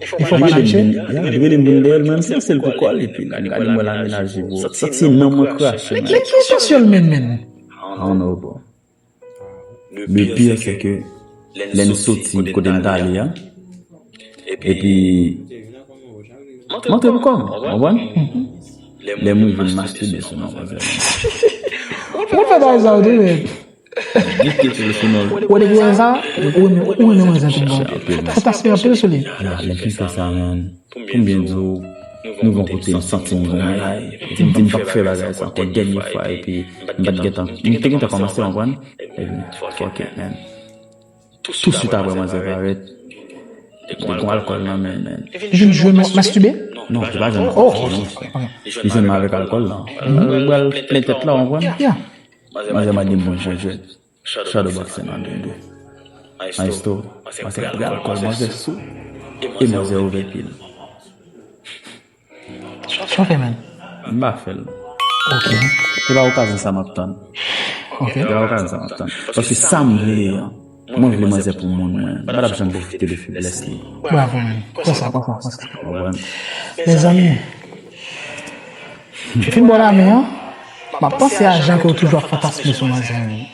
Efò manache ya li rele moun dèyèl menm si sel pou kòl epi la gade mwen la menaje bro santi nanm mwen krache men ki sosyèl menm menn I don't know bro le pire se ke lè n soti kote n ta ale a epi m antre pou kòm ou konprann lè m rive m mastibe sou manzè a ou konn fè bagay sa tou nèt. Ou depi wè sa, ou renmen wè zen tout bon. Ou ta siyen anpil sou li. Ala men ki fè sa menm. Poum byen di w, nou gon kote m santi m gon bagay. Epi m di m pap fè bagay sa ankò dènye fwa epi m pat gen tan. M te gen tan kòmanse konprann. Epi fuck it man. Tou swit aprè manzè parèt, li gon alkòl nan men l man. Li vin jwenn m ap mastibe? Non, li pa jwenn m ap mastibe. Li jwenn m avèk alkòl la. Li bal plen tèt la w konprann. Manzè man gen bon jan jwèt Shadow boxing an gen 2 Maestro manzè pral kòl manzè sou e manzè ouvè pyel Tchonfè menm M pa fèl Ok Se pa okazyon sa map tann Se pa okazyon sa map tann Paske sam vle an. Mwen vle manzè pou moun mwen. M patap janm pwofite de feblès li. Bravo man. Konsa konsa konsa. Mezanmi. Depi yon bon ane an. Map panse a jan ke ou toujou ap fantasme sou manzè wi.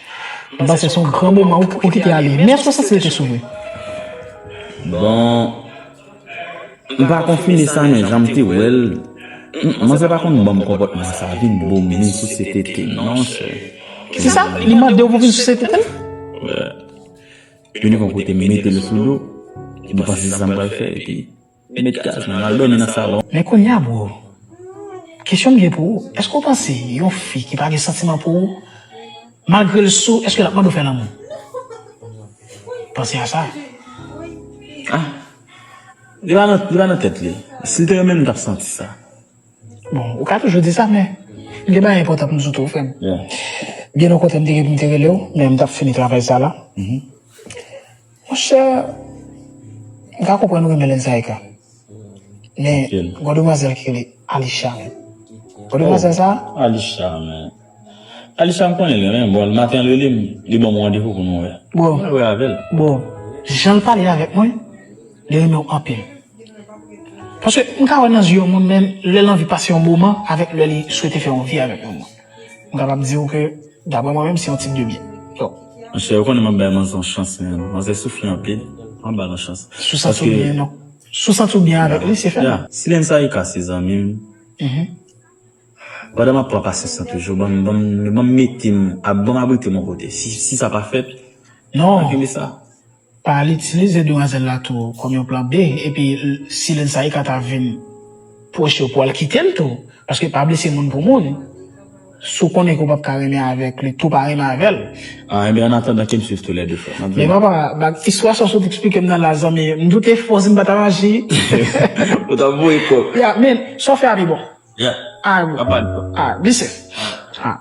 M panse son gran moman ou kite ale. Men eske w santi l te sou vre? Bon. Mpa konfime sa men janm te wèl manzè pa konn banm konpòtman sa vin boom vin souse tete non sè kisa li mandew pou vin souse tetel vini gon kote metel sou do li panse se sam pral fè epi li met gaz nan lal domi nan salon. Men kounya bro kesyon m gen pou ou eske ou panse yon fi ki pa gen santiman pou ou Malgre l sou eske lap mande w fè lanmou? Panse a sa. Ah Li pa nan, li pa nan tèt li. Si l te renmen m, m tap santi sa. Bon, ou ka toujou di sa men M gen bagay enpòtan pou m di w tou frè m. Byen okontrè m te gen pou m te rele w men m tap fini travay sa la. Monchè m ka konprann ou renmen Lenzayka men gon demwazèl ki rele Alisha menm bon demwazèl sa oh Alisha menm Alisha m konnen li renmen m bon maten l rele m li banm randevou pou nou wè pou mwen wè avèl bon janl pale avèk mwen li renmen w anpil paske m ka wè nan zye yon moun menm lèl anvi pase yon moman avèk lè li swete fè yon vi avèk yon moun. Mwen kapab di ou ke, dapre mwen menm, se yon tip de byen. Donk. Monchè, ou konnen m ap bay manzè yon chans menm. Manzè soufri anpil. An m ba l yon chans. Si w santi w byen, donk. Si w santi w byen avèk li, se fè l. Ya. Silène Saïka se zanmi m. Pandan m ap pran pasyans lan toujou, ban m, ban m, ban m mete m, ban m abrite m yon kote. Si sa pa fèt. Non. Kenbe sa. Pa al itilize demwazèl la tou kòm yon plan B epi si Lil Saïka ta vin pwoche w pou al kite l tou paske pa blese moun pou moun si w konnen ke w pap ka renmen avèk li tou pa renmen avè l. Ah enben an atandan kem swiv tou lè 2 frè m ap Men vini. papa bag istwa sa w sot eksplike m nan la zanmi m doute fò si m pa tap aji Ou tap voye kòk. Yeah men sa w fè a pi bon Yeah alright Papa li fò. alright be safe alright.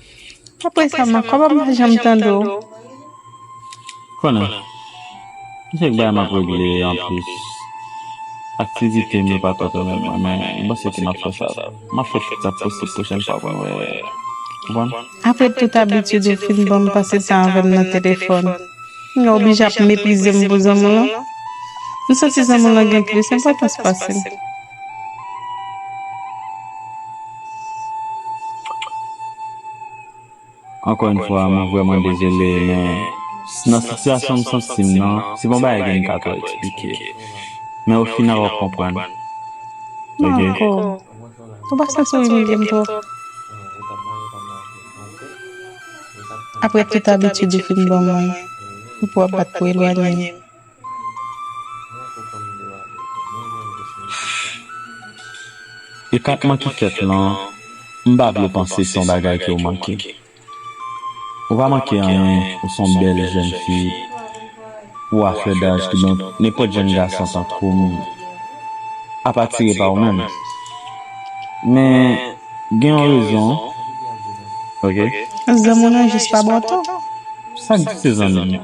Pa presa man, kòman m pa janm tande w? Konnen, gen kèk bagay m ap regle anplis. Aktivite m yo pa twò pèmèt mwen, men m panse ke m ap fè sa. M ap fè tout sa k posib pwochèn fwa pou m wè w. Konprann? Apre tout abitid ou fin ban m pase tan avè m nan telefòn, m gen oblije ap meprize m pou zanmi w lan? M santi zanmi w lan gen plis enpòtans pase m. Ankò yn fwa mwen vrèman dezole men nan sitiyasyon m santi m nan se pa yon bagay ke m ka twò eksplike men o final wap konprann ok Aprè tout abitid ou fin ban mwen Pou wap bat pou elwanye m. E kap manke kèt lan, m pa vle panse se yon bagay ke w manke. Ou pa manke anyen, ou se yon bèl jèn fi, pou w a flè daj kidonk nenpòt jèn gason tankou m ap atire pa ou menm. Men, gen yon rezon, ok. Zanmi w nan jis pa ba w to. Sa k di se zanmi m?